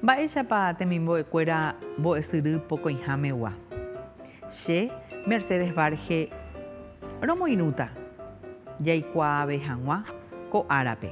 Mba'éichapa temimbo'ekuéra mbo'esyry pokõihámegua. Che, Mercedes Varge, romoirũta jaikuaave hag̃ua ko árape.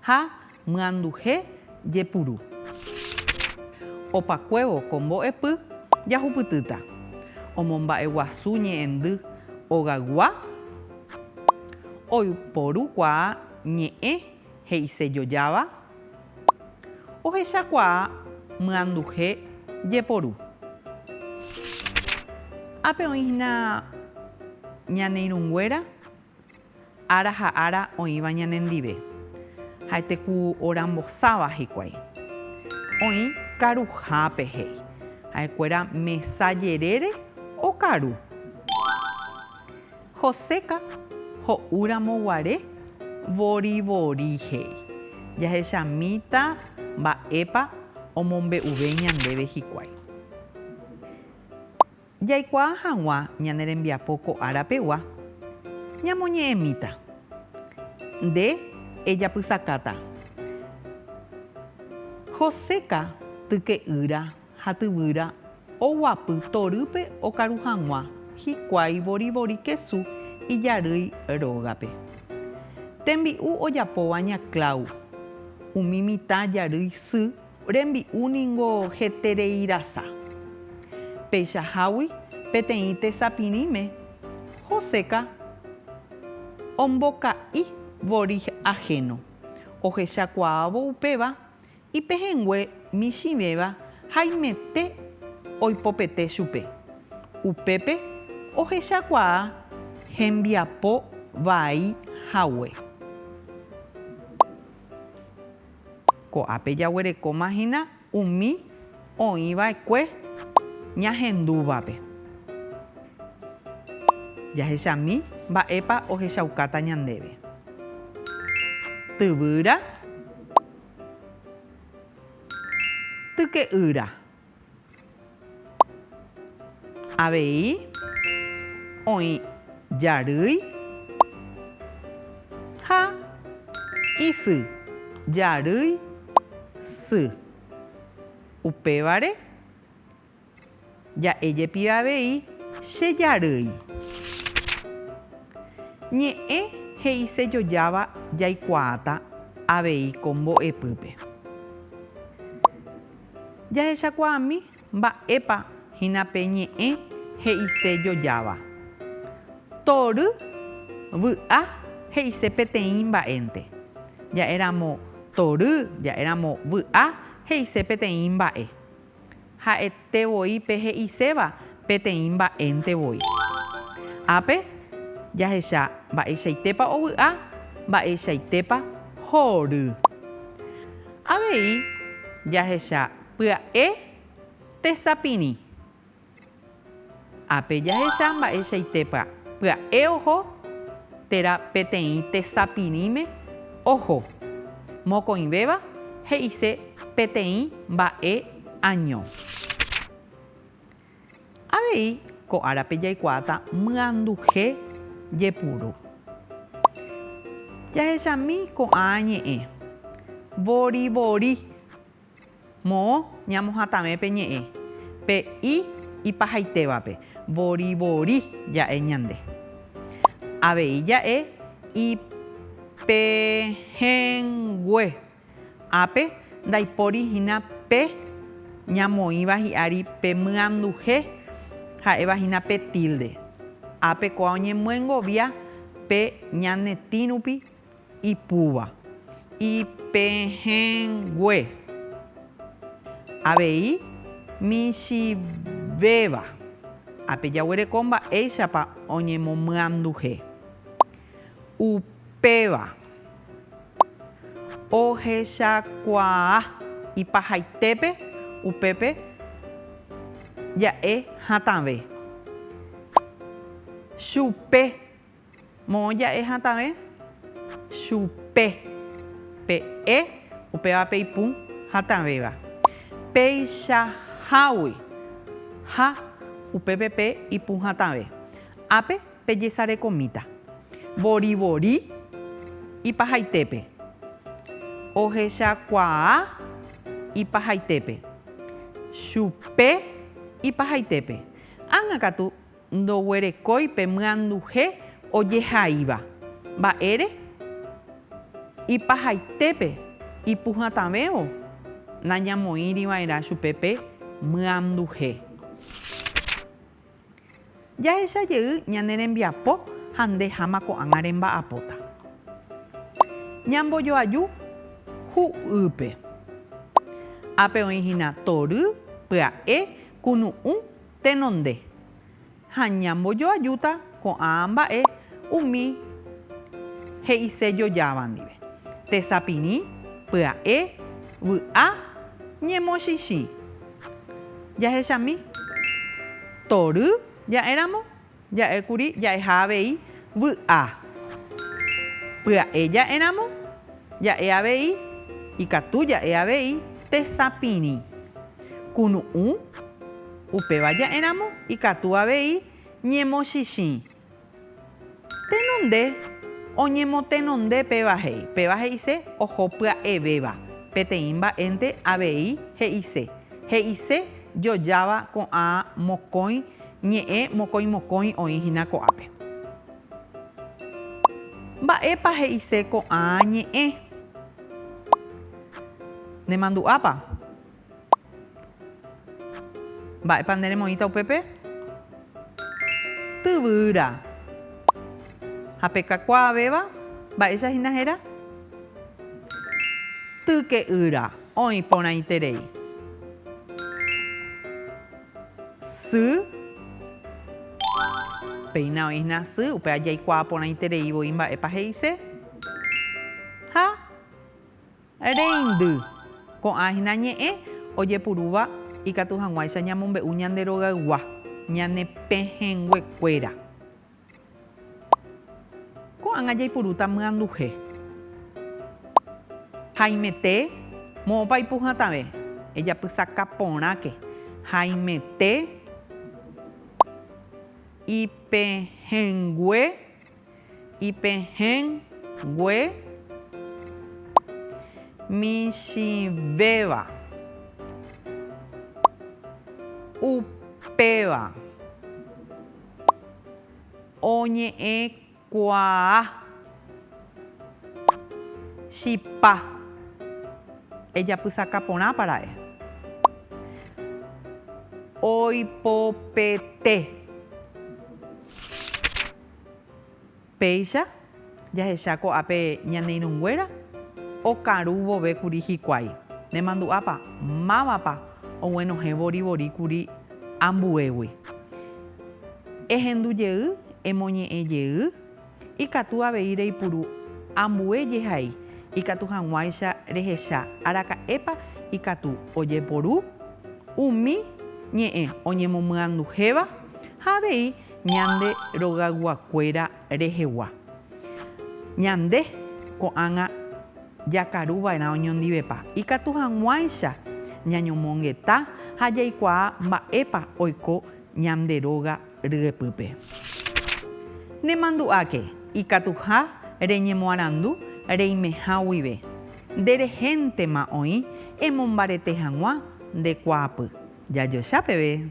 Ha myanduhe jepuru. Opakuévo ko mbo'epy jahupytýta. Omomba'eguasu ñe'ẽndy ogaygua oiporukuaa ñe'ẽ he'ise jojáva ohechakuaa myanduhe jeporu. Ápe oĩhína ñane irũnguéra. ára ha ára oĩva ñanendive, ha'ete ku orambosáva hikuái. Oĩ karuhápe he'i, ha'ekuéra mesa jerére okaru. Joséka ho'úramo guare vorivori he'i, jahechamíta mba'épa omombe'uve ñandéve hikuái. Jaikuaa hag̃ua ñane rembiapo ko ára pegua, ñamoñe'ẽmíta. Nde ejapysakáta. Joséka tyke'ýra ha tyvyra oguapy torýpe okaru hag̃ua hikuái vorivori kesu ijarýi rógape. Tembi'u ojapóva ña Clau, umi mitã jarýi sy Rembi'u ningo hetereirasa. Peichahágui peteĩ tesapirĩme, Joseca omboka'i vorig ajeno, ohechakuaávo upéva ipehẽngue michĩvéva haimete oipopete chupe. Upépe ohechakuaa hembiapo vai hague. Ko'ápe jaguerekóma hína umi oĩ va'ekue ñahendúvape. Jahechami mba'épa ohechaukáta ñandéve. Tyvýra, tyke'ýra. Avei oĩ jarýi ha isy. Jarýi, sy. Upévare ja'e jepive avei che jarýi. Ñe'ẽ he'isejojáva jaikuaáta avei ko mbo'epýpe. Jahechakuaami mba'épa hína pe ñe'ẽ he'ise jojáva. Tory vy'a he'ise peteĩ mba'énte. Ja'éramo tory, ja'éramo vy'a he'ise peteĩ mba'e. Ha'ete voi pe he'iséva peteĩ mba'énte voi. Ápe jahecha mba'eichaitépa ovy'a, mba'eichaitépa hory. Avei jahecha pya'e tesapirĩ. Ápe jahecha mba'eichaitépa pya'e oho térã peteĩ tesapirĩme oho. Mokõivéva he'ise peteĩ mba'e año. Avei ko árape jaikuaáta myanduhe jepuru. Jahechami ko'ã ñe'ẽ. Vorivori. Moõ ñamohatãve pe ñe'ẽ, pe i ipahaitévape, vorivori ja'e ñande. Avei ja'e ipehẽngue. Ápe, ndaipóri hína pe ñamoĩva hi'ári pe myanduhe ha'éva hína pe tilde. Ápe ko'ã oñemyengovia pe ñanetĩ rupi ipúva. Ipehẽngue. Avei, michĩvéva. Ápe jaguereko mba'éichapa oñemomyanduhe. Upéva ohechakuaa ipahaitépe upépe ja'e hatãve. Chupe. Moõ ja'e hatãve chupe. Pe e upéva pe ipũ hatãvéva. Peichahágui. Ha upépe pe ipũ hatãve. Ápe. pejesarekomíta vorivori ipahaitépe, ohechakuaa ipahaitépe, chupe ipahaitépe. Ág̃a katu ndoguerekói pe myanduhe ojehaíva mba'ére ipahaitépe ipuhatãvévo nañamoĩriva'erã chupe pe myanduhe. Jahecha jey ñane rembiapo ha nde háma ko'ág̃a remba'apóta. Ñambojoaju hu'ýpe. Ápe oĩ hína tory, pya'e, kunu'ũ, tenonde. Ha ñambojoajúta ko'ã mba'e umi he'ise jojáva ndive, tesapirĩ, pya'e, vy'a, ñemochĩchĩ. Jahechami. Tory ja'éramo, ja'ékuri ja'eha avei vy'a. Pya'e ja'éramo, ja'e avei, ikatu ja'e avei, tesapirĩ. Kunu'ũ, upéva ja'éramo, ikatu avei, ñemochĩchĩ. Tenonde oñemotenonde péva he'i. Péva he'ise oho pya'evéva. Peteĩ mba'énte avei he'ise. He'ise jojáva ko'ã mokõi ñe'ẽ mokõimokõi oĩ hína ko'ápe. Mba'épa he'ise ko'ã ñe'ẽ? Nemandu'ápa? Mba'épa nde remoĩta upépe? Tyvyra. Ha pe kakuaavéva, mba'éicha hína héra? Tyke'ýra. Oĩ porãiterei. Sy. Péina oĩ hína sy, upéva jaikuaa porãiterei voi mba'épa he'ise. Ha. Reindy. Ko'ã hína ñe'ẽ ojepurúva ikatu hag̃uáicha ñamombe'u ñande rogaygua, ñane pehẽngue kuéra. Ko'ág̃a jaipurúta myanduhe. Haimete, moõpa ipu hatãve, ejapysaka porãke, haimete ipehẽngue. Ipehẽngue michĩvéva, upéva oñe'ẽkuaa chipa. Ejapysaka porãpa ra'e. Oipopete. Péicha jahecha ko'ápe ñane irũnguéra okaru vove kuri hikuái. Nemandu'ápa mávapa oguenohẽ vorivori kuri ambuégui. Ehendu jey, emoñe'ẽ jey, ikatu avei reipuru ambue jehai ikatu hag̃uáicha rehecha araka'épa ikatu ojeporu umi ñe'ẽ oñemomyanduhéva. ha avei ñande rogayguakuéra rehegua. Ñande ko'ág̃a jakaru va'erã oñondivepa, ikatu hag̃uáicha ñañomongeta ha jaikuaa mba'épa oiko ñande róga ryepýpe. Nemandu'áke ikatuha reñemoarandu reimeha guive, nde rehéntema oĩ emombarete hag̃ua nde kuaapy. Jajoecha peve!